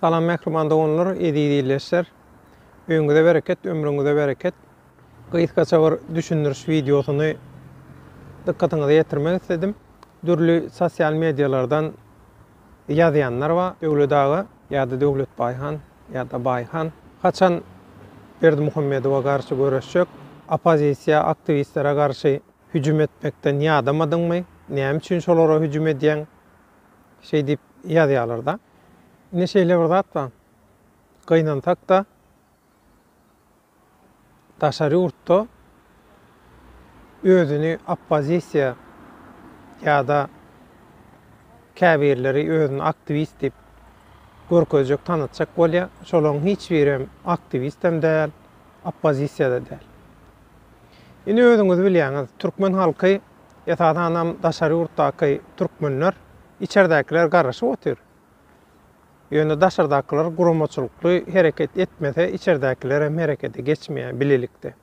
Salam mähriban doganlar, eziz ildeşler! Öýüňize bereket, ömrüňize bereket! Gysgaça bir düşündiriş wideosyny dykgatyňyza ýetirmek isledim. Dürli sosial medialardan ýazýanlar bar, Döwlet aga ýa-da Döwletbaý han ýa-da Baý han haçan Berdimuhamedowa garşy göreşjek? Oppozisiýa aktiwistlere garşy hüjüm etmekden ýadamadyňmy? Näme üçin şolara hüjüm edýäň? Şeýdip ýazýarlar-da. Ine şeýle bir zat bar. Gynansak-da, daşary ýurtda özüni oppozisiýa ýa-da käbirleri özüni aktiwist diýip görkezjek, tanatjak bolýar. Şolaryň hiç birem aktiwist hem däl, oppozisiýa-da däl. Ine özüňiz bilýäňiz, türkmen halky Esasanam daşary ýurtdaky türkmenler, içerdäkiler garaşyp otyr. Ýöne daşardakylar guramaçylykly hereket etmese, içerdäkilerem herekete geçmeýär bilelikde.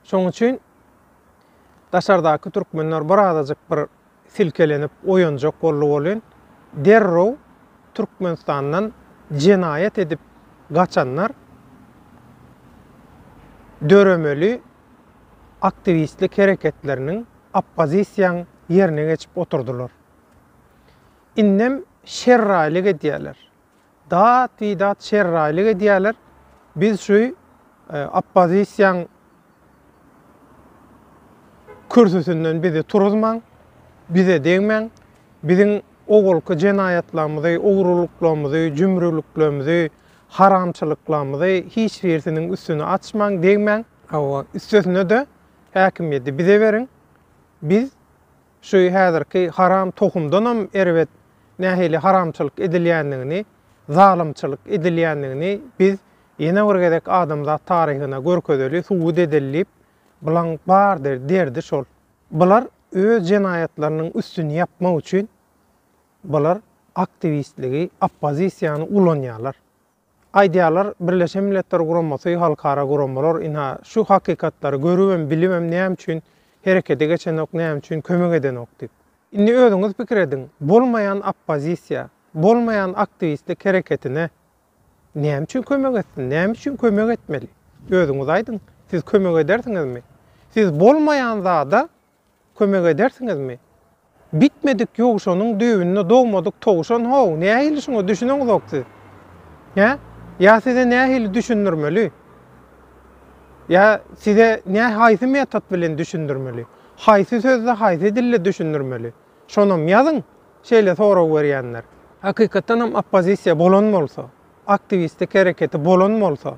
Şonuň üçin daşardaky türkmenler bir azajyk bir silkelenip oýanjak boldy welin, derrew Türkmenistandan jenaýat edip gaçanlar döremeli aktiwistlik hereketleriniň oppozisiýaň ýerine geçip oturdylar. Indem şerraýlyk edýäler. Dat bi dat şerraýlyk edýäler, biz şu oppozisiýaň kürsüsinden bizi turuzmaň, bize degmäň, biziň owalky jenaýatlarymyzy, ogrulyklaymyzy, jümrüliklerimizi, Haramçylyklarymyzy hiç birisiniň üstüni açmaň, degmäň. Hawa, üstesine-de häkimiýeti bize beriň. Biz şu häzirki haram tohumdanam erbet nähili haramçylyk edilýändigini, zalymçylyk edilýändigini biz ýene bir gezek adamzat taryhyna görkezeli, subut edeli diýip, bulaň bar derdi şol. Bular öz jenaýatlarynyň üstüni ýapmak üçin Bular aktiwistligi, oppozisiýany ulanýarlar. Aýdýarlar, Birleşen Milletler Guramasy, halkara guramalar ynha şu hakykatlary görübem, bilibem näme üçin herekete geçenok, näme üçin kömek edenok diýip. Indi özüňiz pikir ediň, bolmaýan oppozisiýa, bolmaýan aktiwistlik hereketine näme üçin kömek etsin, näme üçin kömek etmeli? Özüňiz aýdyň, siz kömek edersiňizmi? Siz bolmaýan zada Kömek edersiňizmi? Bitmedik ýowşanyň düýbünde dogmadyk towşan how, nähili şuňa düşüneňzok siz? Hä? Ýa size nähili düşündirmeli? Ýa size nä haýsy metod bilen düşündirmeli? Haýsy sözde haýsy dilde düşündirmeli? Şonam ýazyň, şeýle sorag berýänler. Hakykatdan hem oppozisiýa bolan bolsa, aktiwistik hereketi bolan bolsa,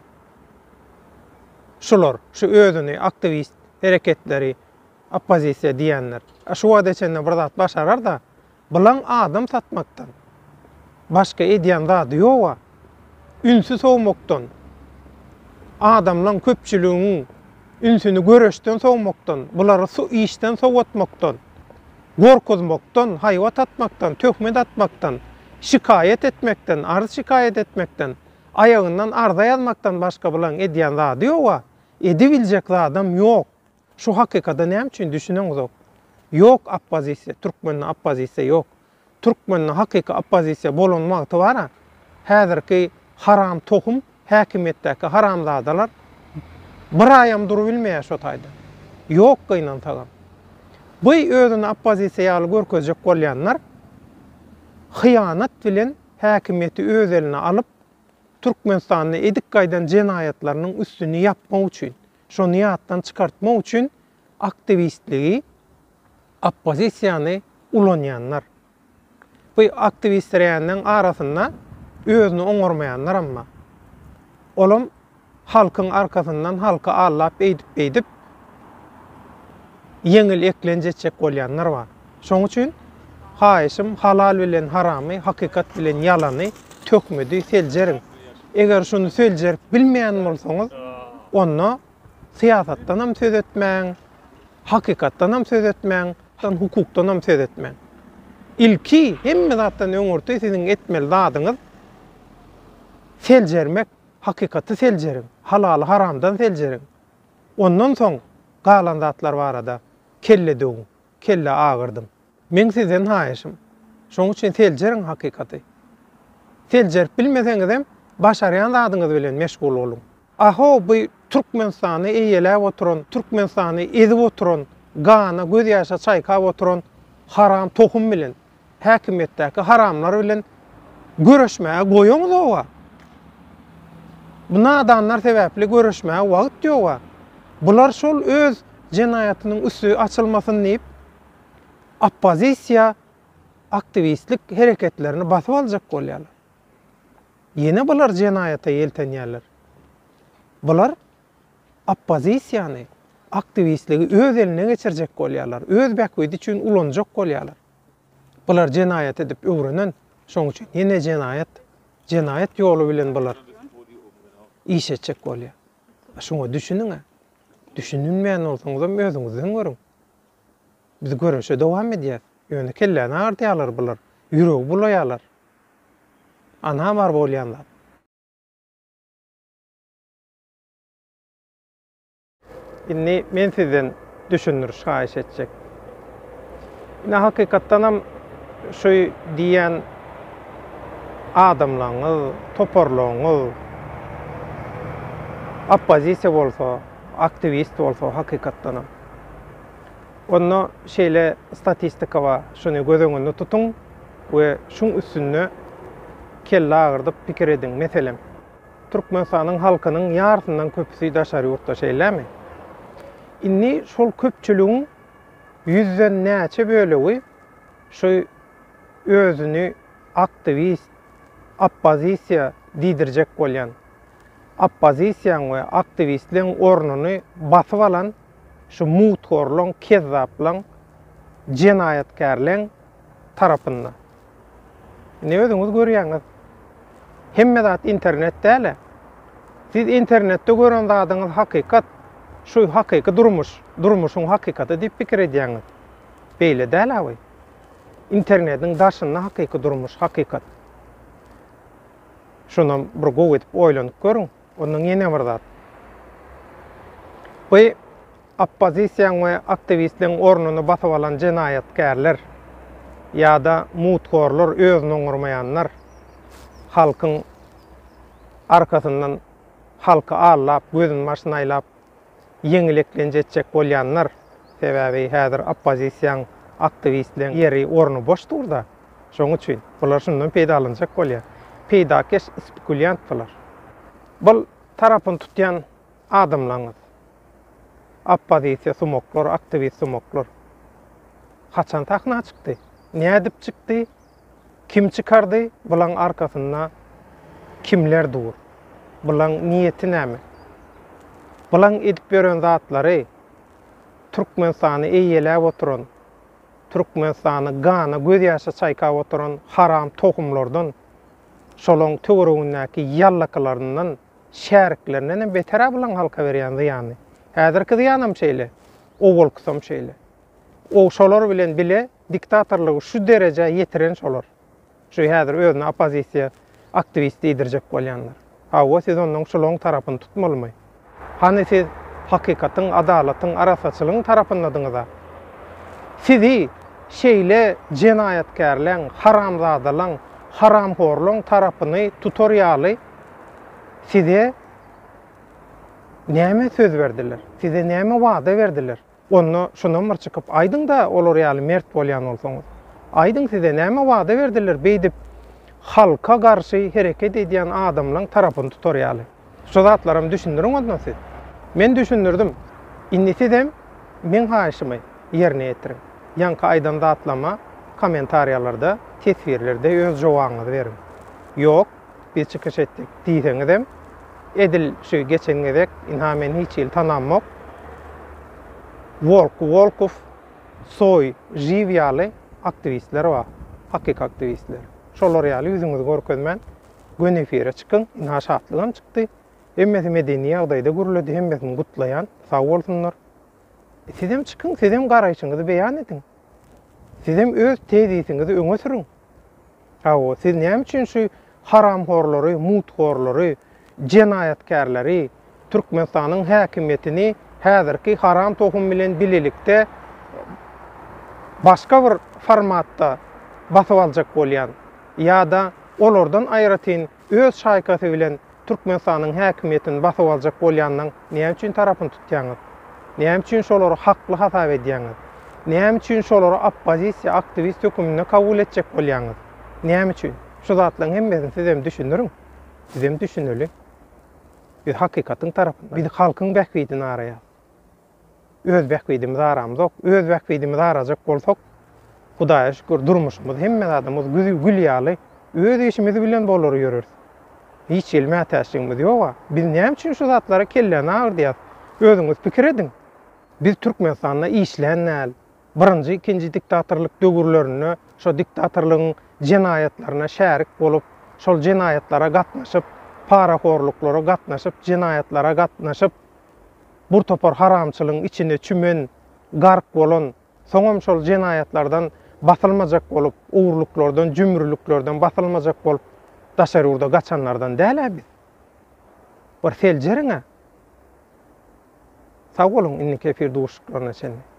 şular, şu özüni aktiwist hereketleri Oppozisiýa diýenler şu wagta çenli bir zat başarar-da, bilaň adam satmakdan başga edýän zady ýog-a. Ünsi sowmakdan, adamlaň, köpçüligiň ünsüni göreşden sowmakdan, bulary su işden sowatmakdan, gorkuzmakdan, haýbat atmakdan, töhmet atmakdan, şikaýat etmekden, arz-şikaýat etmekden, aýagyndan arza ýazmakdan başga bilaň edýän zady ýog-a. Edibiljek zadam ýok. Şu hakykada näme üçin düşüneňizok? Ýok oppozisiýa, türkmende oppozisiýa ýok. Türkmende hakyky oppozisiýa bolan wagty bar-a, häzirki haram tohum häkimiýetdäki haramzadalar bir aýam durubilmeýär şo taýda. Ýok gynansagam. Bu özüni oppozisiýa ýaly görkezjek bolýanlar hyýanat bilen häkimiýeti öz eline alyp, Türkmenistanda edip gaýdan jenaýatlarynyň üstüni ýapmak üçin. Şony ýatdan çykartmak üçin aktiwistligi, oppozisiýany ulanýanlar. Bu aktiwistreýänleň arasynda özüni oňarmaýanlaram bar. Olam halkyň arkasyndan halky aldap eýdip-beýdip ýeňil eklenç etjek bolýanlar bar. Şoň üçin, haýyşym, halal bilen haramy, hakykat bilen ýalany, töhmedi seljeriň. Eger şuny seljerip bilmeýän bolsaňyz, onda syýasatdan hem söz etmäň, hakykatdan hem söz etmäň, hukukdan hem söz etmäň. Ilki, hemme zatdan öňürti siziň etmeli zadyňyz seljermek, hakykaty seljeriň, halaly haramdan seljeriň. Ondan soň galan zatlar barada kelle döwüň. kelle agyrdym. Meň sizden haýyşym, şoň üçin seljeriň hakykaty. Seljerip bilmeseňizem, başarýan zadyňyz bilen meşgul boluň. A-ho, bu Türkmenistany eýeläp oturan, Türkmenistany ezip oturan, gana, gözýaşa çaýkap oturan haram tohum bilen Häkimiýetdäki haramlar bilen göreşmäge goýuňyzoga. Bu nadanlar sebäpli göreşmäge wagt ýoga. Bular şol öz jenaýatynyň üsti açylmasyn diýip, oppozisiýa aktiwistlik hereketlerini basyp aljak bolýarlar. Ýene bular jenaýata ýeltenýärler. Bular oppozisiýany, aktiwistligi öz eline geçirjek bolýarlar, öz bähbidi üçin ulanjak bolýarlar. Bular jenaýat edip öwrenen, şoň üçin ýene jenaýat, jenaýat ýoly bilen bular iş etjek bolýar. Şuňa düşüniň-ä. Düşüninmeýän bolsaňyzam özüňizden görüň. Biz göreşe dowam edýäs. Ýöne kelläni agardýarlar bular, ýüregi bulaýarlar. Ana bar bolýan zat. Indi men sizden düşündiriş haýyş etjek. Ine hakykatdanam şu diýýän adamlaňyz, toparlaňyz oppozisiýa bolsa, aktiwist bolsa hakykatdanam. Onda şeýle statistika bar, şuny göz öňünde tutuň we şuň üstünde kelle agyrdyp pikir ediň. Meselem. Türkmenistanyň halkynyň ýarysyndan köpüsi daşary ýurtda şeýlemi? Indi şol köpçüligiň ýüzden näçe bölegi şu özüni aktiwist, oppozisiýa diýdirjek bolýan, oppozisiýaň we aktiwistleň ornuny basyp alan şu muthorlaň, kezzaplaň, jenaýatkärleň tarapynda? Indi özüňiz görýäňiz. Hemme zat internet däl-ä. Siz internetde gören zadyňyz hakykat. Şu hakyky durmuş, durmuşyň hakykaty diýip pikir edýäňiz. Beýle däl awy. Internetiň daşynda hakyky durmuş, hakykat. Şonam bir gowy edip oýlanyp görüň. Ondan ýene bir zat. Bu oppozisiýaň we aktiwistleň ornuny basyp alan jenaýatkärler ýa-da muthorlar, özüni oňarmaýanlar halkyň arkasyndan halky aldap, gözüni başyny aýlap ýeňil eklenç etjek bolýanlar, sebäbi häzir oppozisiýaň aktiwistleriň ýeri, orny boş dur-da, şonuň üçin bular şundan peýdalanjak bolýar. Peýdakeş spekulýant bular. Bul tarapyny tutýan adamlaryňyz, oppozisiýa sumaklar, aktiwist sumaklar haçan sahna çykdy? Nädip çykdy? Kim çykardy, bulaň arkasynda kimler dur? Bulaň niýeti näme? Bulaň edip ýören zatlary Türkmenistany eýeläp oturan, Türkmenistany gana gözýaşa çaýkap oturan haram tohumlardan, şolaň töweregindäki ýallakylaryndan, şäriklerinden hem beter-ä bulaň halka berýän zyýany. Häzirki zyýanam şeýle, owalkysam şeýle. O şolar bilen bile Diktatorlygy şu derejä ýetiren şolar. Şu häzir özüni oppozisiýa aktiwist diýdirjek bolýanlar. Hawa, siz onnoň şulaň tarapyny tutmalymy? Hany siz hakykatyň, adalatyň, arassaçylygyň tarapyndadyňyz-a? Sizi şeýle jenaýatkärleň, haramzadalaň, haramhorlaň tarapyny tutar ýaly size näme söz berdiler? Size näme wada berdiler? Onda şunam bir çykyp aýdyňda olar ýaly mert bolýan bolsaňyz. Aýdyň size näme wada berdiler beýdip halka garşy hereket edýän adamlaň tarapyny tutar ýaly. Şu zatlaram düşündiriň onda siz. Men düşündirdim. Indi sizem meň haýyşymy ýerine ýetiriň. Ýaňky aýdan zatlama kommentariýalarda teswirlerde öz jowabyňyzy beriň. Ýok. Biz çykyş etdik diýseňizem, edil şu geçen gezek, ynha men hiç hili tanamok, Wolk, Wolkow, Soý, Živ ýaly aktiwistler bar, hakyky aktiwistler. Şolar ýaly ýüzüňizi görkezmän, göni efire çykyň. Ynha Şatlygam çykdy. Hemmesi medeni ýagdaýda gürledi. Hemmesini gutlaýan. Sag bolsunlar. Sizem çykyň, sizem garaýşyňyzy beýan ediň. Sizem öz tezisiňizi öňe sürüň. Hawa, siz näme üçin şu haramhorlary, muthorlary, jenaýatkärleri, Türkmenistanyň häkimiýetini häzirki haram tohum bilen bilelikde başga bir formatda basyp aljak bolýan ýa-da olardan aýratyn Öz şaýkasy bilen Türkmenistanyň häkimiýetini basyp aljak bolýanlaň näme üçin tarapyny tutýaňyz? Näme üçin şolary hakly hasap edýäňiz? Näme üçin şolary oppozisiýa, aktiwist höküminde kabul etjek bolýaňyz? Näme üçin? Şu zatlaň hemmesini sizem düşündiriň. Bizem düşüneli. Biz hakykatyň tarapynda. Biz halkyň bähbidini araýas. Öz bähbidimizi aramzok, öz bähbidimizi arajak bolsak, Hudaýa şükür, durmuşymyz, hemme zadymyz güzi gül ýaly, öz işimiz bilen bolar ýöreris. Hiç hili mätäçligimiz ýog-a. Biz näme üçin şu zatlara kelläni agyrdyýas? Özüňiz pikir ediň. Biz Türkmenistanda işlän däl. Birinji, ikinji diktatorlyk döwürlerinde şo diktatorlygyň jenaýatlaryna şärik bolup, şol jenaýatlara gatnaşyp, parahorluklara gatnaşyp, jenaýatlara gatnaşyp, bir topar haramçylygyň içine çümen, gark bolan, soňam şol jenaýatlardan basylmajak bolup, ogrulyklardan, jümrüliklerden basylmajak bolup daşary ýurda gaçanlardan däl-ä biz. Bir seljeriň-ä. Sag boluň, indiki efir duşuşyklaryna çenli.